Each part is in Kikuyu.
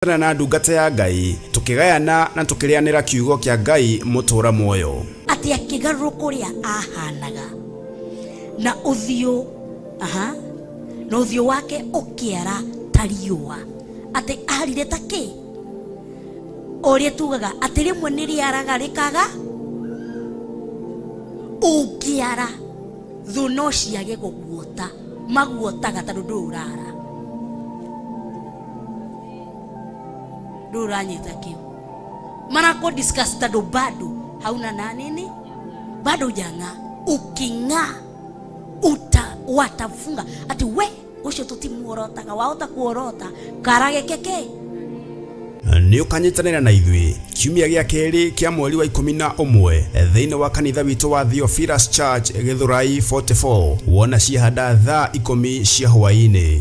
tũkĩnyitana na ndungata ya Ngai, tũkĩgayana na tũkĩrĩanĩra kiugo kĩa Ngai mũtũũra muoyo. atĩ akĩgarũrũka ũrĩa ahanaga na ũthiũ aha, na ũthiũ wake ũkĩara ta riũa atĩ arire ta kĩ ũrĩa tugaga atĩ rĩmwe nĩ rĩaraga rĩkaga ũngĩara thũ no ciage gũguota maguotaga tondũ ndũĩ ũrara ndũĩ ũranyita kĩo manako discuss tondũ bado hauna na nini bado hujang'aa uking'aa uta watafunga ati we ucio tutimuorotaga wahota kuorota kara geke ke nä å kanyitanä na ithuĩ kiumia gĩa kerĩ kĩa mweri wa ikũmi na ũmwe thĩinĩ wa kanitha witũ wa Theophilus Church Gĩthũrai 44 wona ciahanda thaa ikũmi cia hwaĩ-inĩ.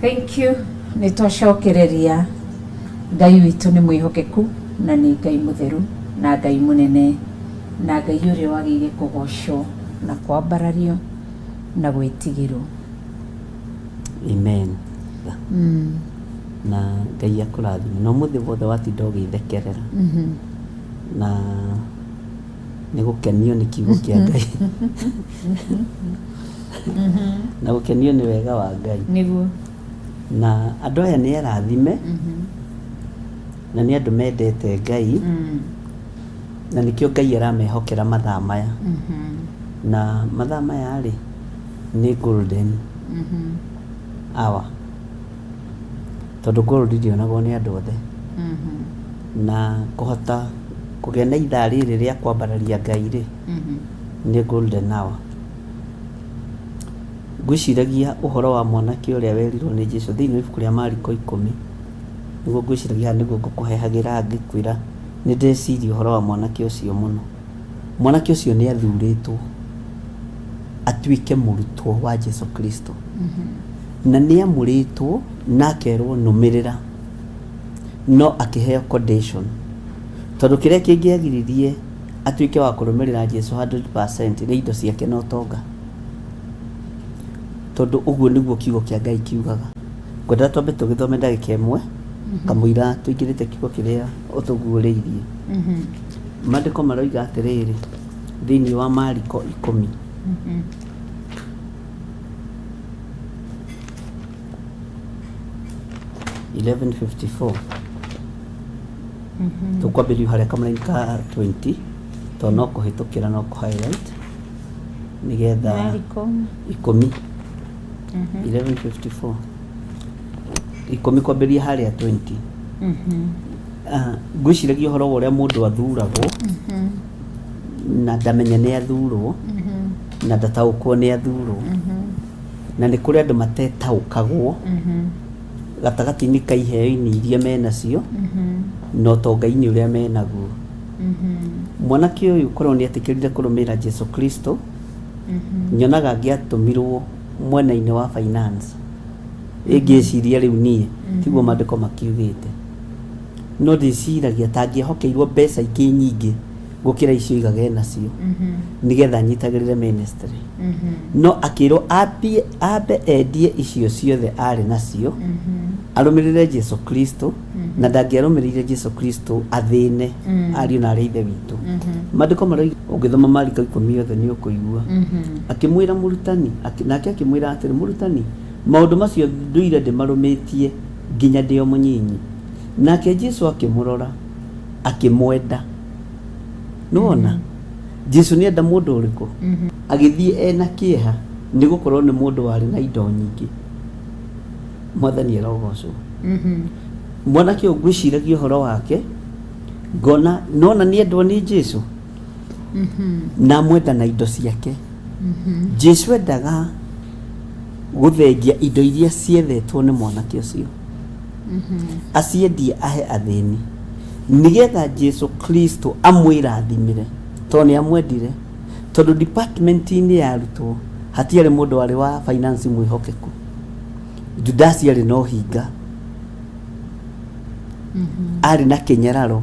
Thank you. Nĩ twacokereria. Ngai witũ nĩ mwĩhokeku na nĩ Ngai mũtheru na Ngai mũnene na Ngai ũrĩa wagĩire kũgocwo na kwambarario na gwĩtigĩrwo. Amen. Mm. Na Ngai akũrathime. Na ũmũthĩ wothe watinda ũgĩthekerera. Mm -hmm. Na nĩ gũkenio nĩ kiugo kĩa ngai na gũkenio nĩ wega wa ngai nĩguo na andũ aya nĩ arathime na nĩ andũ mendete ngai Mm. na nĩkĩo ngai aramehokera mathaa maya Mhm. na mathaa maya rĩ nĩ golden Mhm. hour Tondũ gold ndĩonagwo nĩ andũ othe na kũhota kũgĩa na ithaa rĩrĩ rĩa kwambararia Ngai rĩ nĩ golden hour. Ngwĩciragia ũhoro wa mwanake ũrĩa werirwo nĩ Jesu thĩinĩ wa ibuku rĩa Mariko ikũmi, nĩguo ngwĩciragia haha nĩguo ngũkũhehagĩra ngĩkwĩra nĩ ndeciria ũhoro wa mwanake ũcio mũno. Mwanake ũcio nĩ athurĩtwo atuĩke mũrutwo wa Jesu Kristo mm-hmm. na nĩ amũrĩtwo na akerwo nũmĩrĩra no akĩheo condition tondũ kĩrĩa kĩngĩagiririe atuĩke wa kũrũmĩrĩra Jesu 100% nĩ indo ciake na ũtonga tondũ ũguo nĩguo kiugo kĩa Ngai kiugaga ngwenda twambe tũgĩthome ndagĩka ĩmwe mm-hmm. kamũira tũingĩrĩte kiugo kĩrĩa ũtũguũrĩirie mm-hmm. Maandĩko maroiga atĩrĩrĩ thĩinĩ wa Mariko ikũmi eleven fifty four tũkwambĩrĩria harĩa kamũraini ka 20 to no kũhĩtũkĩra no kũ highlight nĩgetha Mariko. ikũmi 1154 ikũmi kwambĩrĩria harĩa 20 Mhm. Ah, ngwĩciragia ũhoro wa ũrĩa mũndũ athuragwo na ndamenya nĩ athurwo na ndataũkwo nĩ athurwo na nĩ kũrĩ andũ matetaũkagwo gatagatĩ-inĩ ka iheo-inĩ iria menacio na ũtonga-inĩ ũrĩa menaguo mwanake ũyũ korwo nĩ etĩkĩrire kũrũmĩrĩra jesu kristo nyonaga angĩatũmirwo mwena-inĩ wa finance ĩngĩciria rĩu niĩ tiguo maandĩko makiugĩte no ndĩciragia ta angĩhokeirwo mbeca ingĩ nyingĩ gũkĩra icio igaga e nacio nĩgetha anyitagĩrĩre ministry no akĩrwo ambie ambe endie icio ciothe arĩ nacio arũmĩrĩre jesu kristo na ndangĩarũmĩrĩire jesu kristo athĩne ariũ na arĩa a ithe witũ maandĩko maroiga ũngĩthoma mariko ikũmi yothe nĩ ũkũigua akĩmwĩra mũrutani akĩ- nake akĩmwĩra atĩrĩ mũrutani maũndũ macio ndũire ndĩmarũmĩtie nginya ndĩ o mũnyinyi. Nake Jesu akĩmũrora, akĩmwenda. Nĩwona? Mm -hmm. Jesu nĩenda mũndũ ũrĩkũ? Mm -hmm. Agĩthiĩ ena kĩeha nĩ gũkorwo nĩ mũndũ warĩ na indo nyingĩ. Mwathani erogocwo. Mm -hmm. Mwanake ũyũ ngwĩciragia ũhoro wake, ngona nona nĩ endwo nĩ Jesu. Mm -hmm. Na mwenda na indo ciake. Mm -hmm. Jesu endaga Gũthengia indo iria ciethetwo nĩ mwanake ũcio, aciendie ahe athĩni, nĩgetha Jesu Kristo amwĩrathimĩre, tondũ nĩ amwendire. Tondũ department-inĩ ya arutwo hatiarĩ mũndũ warĩ wa finance mwĩhokeku. Judasi arĩ na ũhinga, arĩ na kĩnyararo.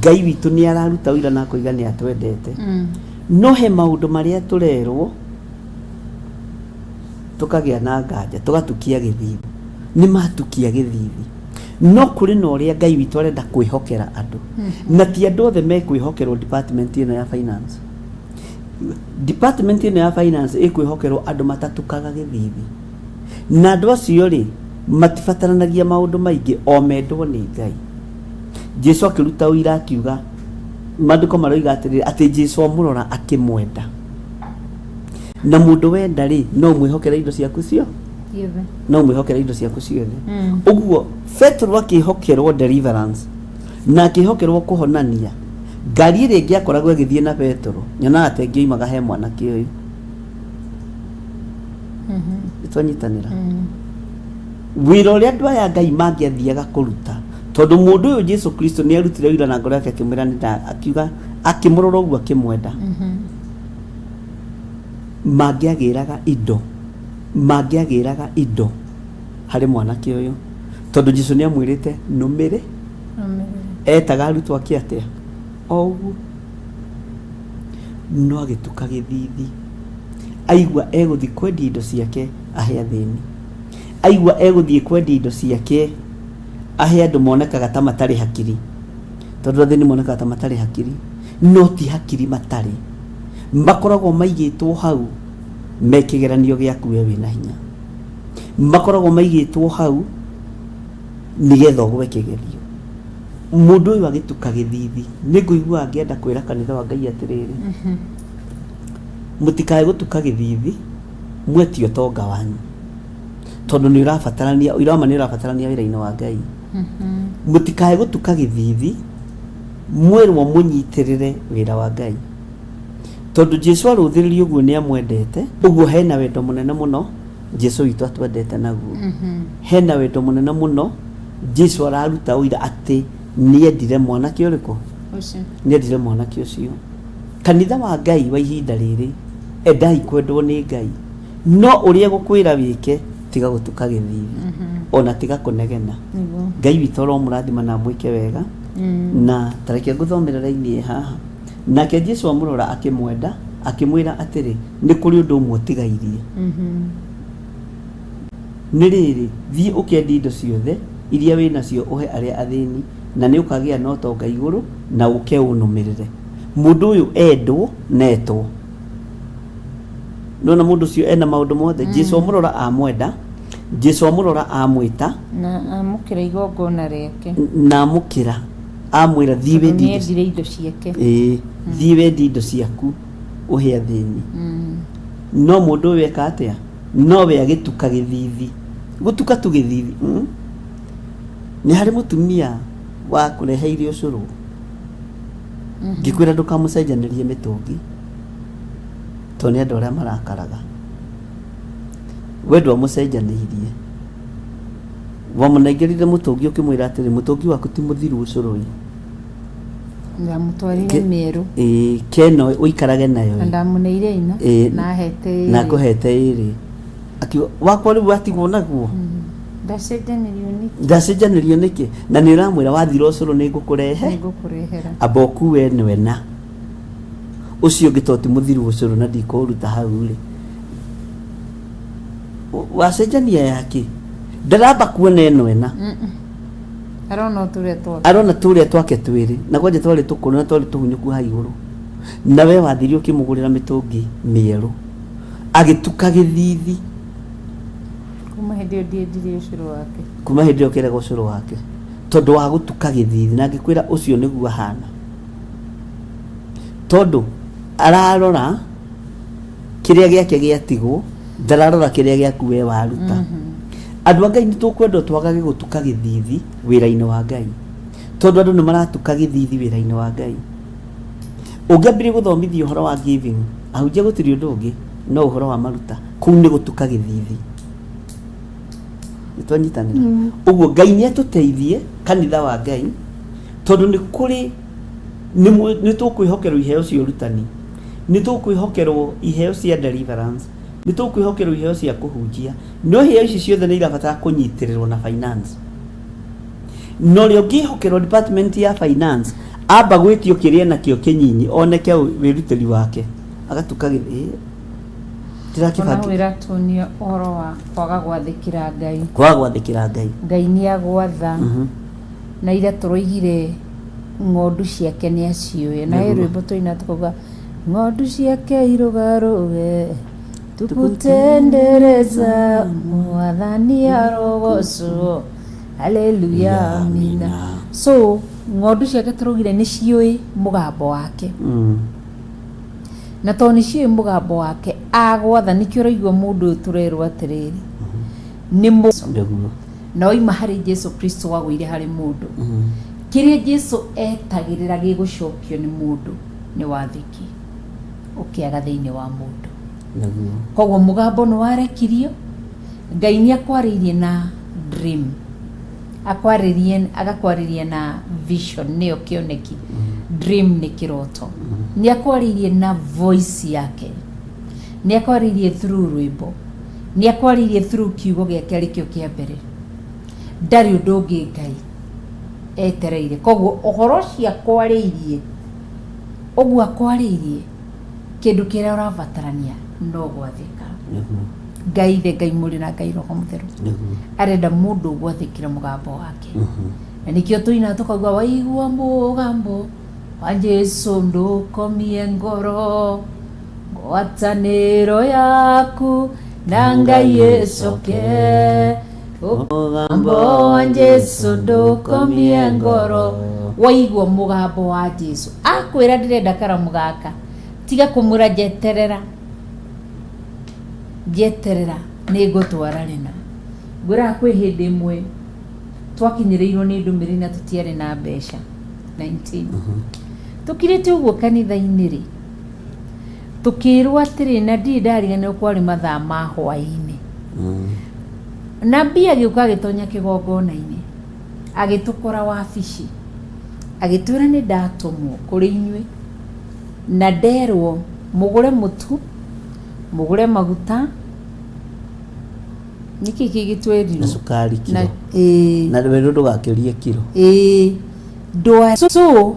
Ngai witũ nĩ araruta ũira na akoiga nĩ atwendete. Mm. No he maũndũ marĩa tũrerwo tũkagĩa na nganja tũgatukia gĩthithi nĩ matukia gĩthithi no kũrĩ na ũrĩa ngai witũ arenda kwĩhokera andũ mm-hmm. na ti andũ othe mekwĩhokerwo department ĩno ya finance department ĩno ya finance ĩkwĩhokerwo andũ matatukaga gĩthithi na andũ acio rĩ matibataranagia maũndũ maingĩ o mendwo nĩ ngai Jesu akĩruta ũira akiuga, maandĩko maroiga atĩrĩrĩ, atĩ Jesu amũrora akĩmwenda. Na mũndũ wenda rĩ, no mwĩhokere indo ciaku cio Ciothe. no mwĩhokere indo ciaku ciothe Mm. ũguo petero akĩhokerwo deliverance na akĩhokerwo kũhonania ngari ĩrĩa ĩngĩakoragwo ĩgĩthiĩ na petero nyonaga atĩ ĩngĩoimaga he mwanake ũyũ Mhm. nĩtwanyitanĩra Mm. Wĩra ũrĩa andũ aya a Ngai mangĩathiaga kũruta, tondũ mũndũ ũyũ Jesu Kristo nĩ arutire wĩra na ngoro yake akĩmwĩra nĩ nda akiuga akĩmũrora ũguo akĩmwenda mm-hmm. mangĩagĩraga indo mangĩagĩraga indo harĩ mwanake ũyũ tondũ Jesu nĩ amwĩrĩte nũmĩrĩ etaga arutwo ake atĩa o ũguo no agĩtuka gĩthithi aigua egũthiĩ kwendia indo ciake ahe athĩni Aigua egũthiĩ kwendia indo ciake ahe andũ monekaga ta matarĩ hakiri, tondũ athĩni monekaga ta matarĩ hakiri, no ti hakiri matarĩ, makoragwo maigĩtwo hau me kĩgeranio gĩaku we wĩna hinya, makoragwo maigĩtwo hau nĩgetha ũgwe kĩgerio. Mũndũ ũyũ agĩtuka gĩthithi, nĩ ngũigua ngĩenda kwĩra kanitha wa Ngai atĩrĩrĩ, mũtikae gũtuka gĩthithi, mwe ti ũtonga wanyu tondũ nĩ ũrabatarania ũira wa ma nĩ ũrabatarania wĩra-inĩ wa ngai mũtikae gũtuka gĩthithi mwĩrwo mũnyitĩrĩre wĩra wa ngai tondũ jesu arũthĩrĩria ũguo nĩ amwendete ũguo hena wendo mũnene mũno jesu witũ atwendete naguo hena wendo mũnene mũno jesu araruta ũira atĩ nĩendire mwanake ũrĩkũ Ũcio. nĩendire mwanake ũcio kanitha wa ngai wa ihinda rĩrĩ endai kwendwo nĩ ngai no ũrĩa gũkwĩra wĩke tiga gũtuka gĩthithi ona tiga kũnegena Nĩguo. ngai witũ aromũrathima na amwĩke wega Mm. na tareke ngũthomere raini ĩ haha nake jesu amũrora akĩmwenda akĩmwĩra atĩrĩ nĩ kũrĩ ũndũ ũmwe ũtigairie Mhm. Nĩ rĩrĩ, thiĩ ũkendie indo ciothe iria wĩ nacio ũhe arĩa athĩni, na nĩ ũkagĩa na ũtonga igũrũ, na ũke ũnũmĩrĩre. Mũndũ ũyũ endwo na etwo. Nĩ wona mũndũ ũcio ena maũndũ mothe? Jesu amũrora amwenda, Jesu amũrora amwĩta, Na amũkĩra igongona rĩake, na amũkĩra amwĩra thiĩ tondũ wendie indo nĩendire indo ciake. Ĩĩ, thiĩ wendie indo ciaku ũhe athĩni. Mm. No mũndũ ũyũ eka atĩa? Nowe agĩtuka gĩthithi. Gũtuka tu gĩthithi mm? Nĩ harĩ mũtumia wa kũreheire ũcũrũ mhm. ngĩkwĩra ndũkamũcenjanĩrie mĩtũngi tondũ nĩ andũ arĩa marakaraga we ndwamũcenjanĩirie wamũnengerire mũtũngi ũkĩmwĩra atĩrĩ mũtũngi waku ti mũthiru ũcũrũ-ĩ ndamũtwarire Ke- mĩerũ Ĩĩ, keno ũikarage nayo na ndamũneire ĩna Ĩĩ. na hete ĩrĩ. na ngũhete ĩrĩ akiuga wakwa rĩu watigwo naguo Mm. ndacenjanirio nĩkĩ ndacenjanĩrio nĩkĩ na nĩ ũramwĩra wathira ũcũrũ nĩ ngũkũrehe nĩngũkũrehera amba ũkue nwe na ũcio ũngĩ toti mũthiru ũcũrũ na ndikũũruta hau rĩ Wa- wacenjania yake ndaramba kuona ĩno ĩna Mm-mm. arona tũrĩa twake arona tũrĩa twake twĩrĩ na kwanja twarĩ tũkũrũ na twarĩ tũhunyũku ha igũrũ na we wathirie ũkĩmũgũrĩra mĩtũngi mĩerũ agĩtuka gĩthithi kuma hĩndĩ ĩyo ndiendirie ũcũrũ wake kuma hĩndĩ ĩyo kĩrega ũcũrũ wake tondũ wa gũtuka gĩthithi na ngĩkwĩra ũcio nĩguo ahana tondũ ararora kĩrĩa gĩake gĩatigwo ndararora kĩrĩa gĩaku we waruta mm -hmm. andũ a ngai nĩ tũkwenda twagage gũtuka gĩthithi wĩra-inĩ wa ngai tondũ andũ nĩ maratuka gĩthithi wĩra-inĩ wa ngai ũngĩambĩrĩria gũthomithia ũhoro wa giving ahunjia gũtirĩ ũndũ ũngĩ no ũhoro wa maruta kũu nĩ gũtuka gĩthithi nĩ twanyitanĩra mm. ũguo ngai nĩ atũteithie kanitha wa ngai tondũ nĩ kũrĩ nĩ tũkwĩhokerwo iheo cia ũrutani nĩ tũkwĩhokerwo iheo cia deliverance, nĩ tũkwĩhokerwo iheo cia kũhunjia, no iheo ici ciothe nĩ irabatara kũnyitĩrĩrwo na finance. Na ũrĩa ũngĩhokerwo department ya finance amba gwĩtio kĩrĩa nakĩo kĩnyinyi oneke wĩrutĩri wake agatuka gĩthĩ tirakĩbangĩ iratuonia ũhoro wa kwaga gwathĩkĩra Ngai kwaga gwathĩkĩra Ngai Ngai nĩ agwatha mm -hmm. na ira tũroigire ng'ondu ciake nĩ aciũĩ na he rwĩmbo tũina tũkauga ng'ondu ciake irũgarũge tukutendereza mwathani arogocwo haleluya amina so ng'ondu ciake tũraugire nĩ ciũĩ mũgambo wake Mm. na tondũ nĩ ciũĩ mũgambo wake agwatha nĩkĩo ũraigua mũndũ ũyũ tũrerwo atĩrĩrĩ nĩ mũ Nĩguo. na oima harĩ Jesu Kristo wagũire harĩ mũndũ kĩrĩa Jesu etagĩrĩra gĩgũcokio nĩ mũndũ nĩ wathĩki ũkĩaga thĩinĩ wa mũndũ Naguo. koguo mũgambo nĩ warekirio ngai nĩ akwarĩirie na dream akwarĩrie agakwarĩria na vision nĩyo kĩoneki dream nĩ kĩroto nĩ akwarĩirie na voice yake nĩ akwarĩirie through rwĩmbo Nĩ akwaririe through kiugo gĩake arĩ kĩo kĩa mbere. Ndarĩ ũndũ ũngĩ Ngai etereire. Koguo ũhoro ũcio akwarĩirie, ũguo akwarĩirie, kĩndũ kĩrĩa ũrabatarania no gwathĩka. Ngai Ithe, Ngai Mũrĩ na Ngai Roho Mũtheru arenda mũndũ ũgwathĩkĩra mũgambo wake. Na nĩkĩo tũinaga tũkauga waigua mũgambo wa Jesu ndũkomie ngoro. ngwatanĩro yaku na ngai ĩcoke mũgambo wa jesu ndũkomie ngoro waigua mũgambo wa jesu akwĩra ndĩrenda karamu gaka tiga kũmwĩra njeterera njeterera nĩ ngũtwara rĩna ngwĩraga kwĩ hĩndĩ ĩmwe twakinyĩrĩirwo nĩ ndũmĩrĩri na tũtiarĩ na mbeca 19 tũkirĩte ũguo kanitha-inĩ rĩ tũkĩĩrwo atĩrĩ na ndirĩ ndariganĩrwo kwarĩ mathaa ma hwaĩ-inĩ Mm. nabii agĩũka agĩtonya kĩgongona-inĩ agĩtũkora wabici agĩtwĩra nĩ ndatũmwo kũrĩ inyuĩ na nderwo mũgũre mũtu mũgũre maguta nĩkĩ kĩ na gĩtwerirwo cukari kiro ĩĩ na wĩrwo ndũgakĩrie kiro ĩĩ ndwa so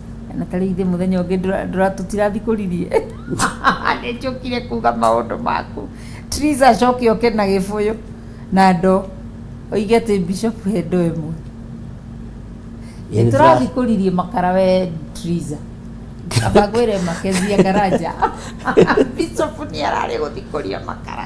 na tarä ithe må thenya å ngä tũtirathiĩ kũririe nä njũkire kuga maũndũ maku Teresa acoke oke na gä bũyũ na ndo oige atä bishop he ndo ĩmwe Ĩ, Nĩ tũrathiĩ tũra- kũririe makara we Teresa amba ngwä re makezia karanja bishop nä ararä gå thiä kå ria makara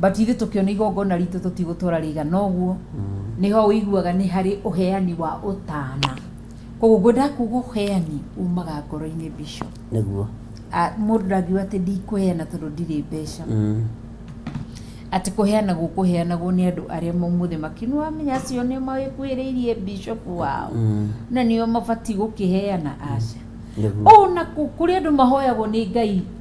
but ithe tũkĩona igongona ritũ tũtigũtwara rĩigana ũguo nĩho ũiguaga nĩ harĩ ũheani wa ũtana koguo ngwenda kuga ũheani umaga ngoro-inĩ bico nĩguo Ah, mũndũ ndangiuga atĩ ndikũheana tondũ ndirĩ mbeca Mm. atĩ kũheanagwo kũheanagwo nĩ andũ arĩa maumũthĩ makĩnĩ wamenya acio nĩ mawĩkuĩrĩirie bishopu wao Mm. na nĩo mabatiĩ gũkĩheana aca nĩguo ona kũ- kũrĩ andũ mahoyagwo nĩ ngai